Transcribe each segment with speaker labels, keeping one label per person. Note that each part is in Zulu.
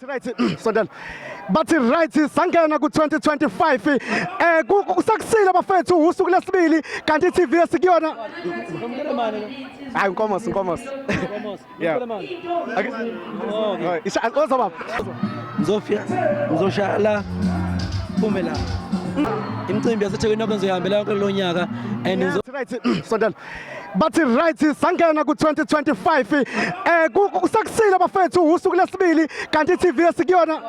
Speaker 1: Right, sondela bathi right sangena ku-2025 eh kusakusile bafethu usuku lesibili kanti i-tv esikuyona hayi nkomos nkomos oza baba ngizofika
Speaker 2: ngizoshaya la phume la imicimbi yasethekwini okwenzoyihambela yonke lo nyaka and right sondela
Speaker 1: bathi right sangena ku-2025 um eh, kusakusile bafethu usuku lesibili kanti i-tv esikuyona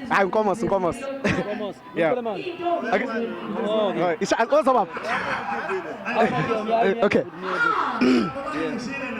Speaker 1: hayi nkomosi nkomosi oza baba okay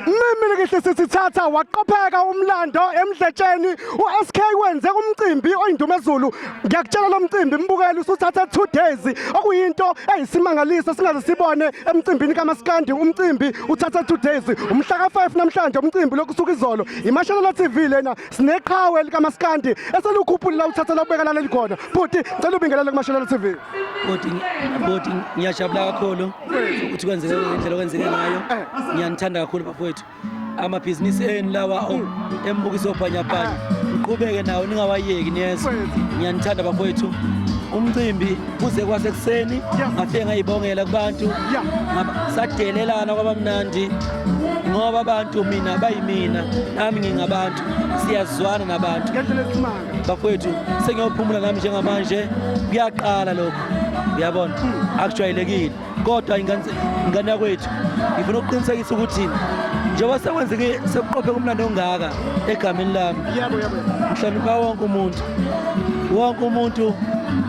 Speaker 1: mimile kihle sisithatha waqopheka umlando emdletsheni u-sk wenze umcimbi oyindumezulu ngiyakutshela lo mcimbi mbukeli usuthathe two days okuyinto eyisimangaliso singaze sibone emcimbini kamaskandi umcimbi uthathe two days umhla ka-five namhlanje umcimbi lokusuka izolo imashalela tv lena sineqhawe likamaskandi eselukhuphulila uthatha lokubeka laleli khona bhuti ngicela ubingelele kumashalela tv bhuti
Speaker 2: bhuti ngiyajabula kakhulu ukuthi kwenzeke ngendlela okwenzeke ngayo eh. ngiyanithanda kakhulu bafowethu amabhizinisi enu lawa mm. embukiso obhanyabhanya ah. ngiqhubeke nawo ningawayeki niyezwa ngiyanithanda bafowethu umcimbi kuze kwasekuseni ngafike ngayibongela kubantu sadelelana kwabamnandi ngoba abantu mina bayimina nami ngingabantu siyazwana nabantu bafowethu sengiyophumula nami njengamanje kuyaqala lokho uyabona hmm. akujwayelekile kodwa ingane yakwethu ngifuna ukuqinisekisa ukuthi njengoba sekwenzeke sekuqophe kumlando ongaka egameni lami ngihlonipha wonke umuntu wonke umuntu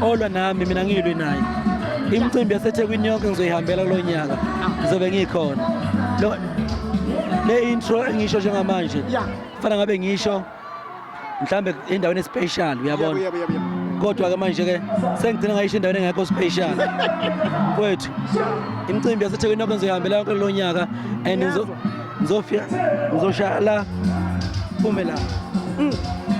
Speaker 2: olwa nami mina ngilwe naye imicimbi yasethekwini yonke ngizoyihambela kulo nyaka ngizobe ngikhona le intro engisho njengamanje fana ngabe ngisho mhlambe endaweni especial uyabona Yebo, yebo, yebo. kodwa ke manje ke sengigcina ngayisho endaweni engekho special kwethu imicimbi yasethekwini nokho ngizoyihambela yonke lo nyaka and ngizo- ngizofika ngizoshaya la phume la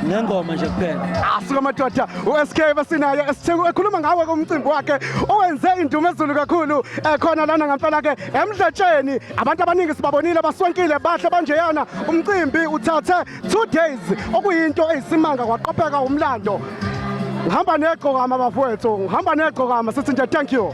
Speaker 2: ngengoma nje kuphela asuka madoda
Speaker 1: uSK basinaye esithengu ekhuluma ngawe kumcimbi wakhe owenze indumezulu kakhulu ekhona lana ngempela ke emdletsheni abantu abaningi sibabonile baswenkile bahle banjeyana umcimbi uthathe two days okuyinto eyisimanga kwaqopheka umlando ngihamba negqokama bafowethu ngihamba negqokama sithi nje thank you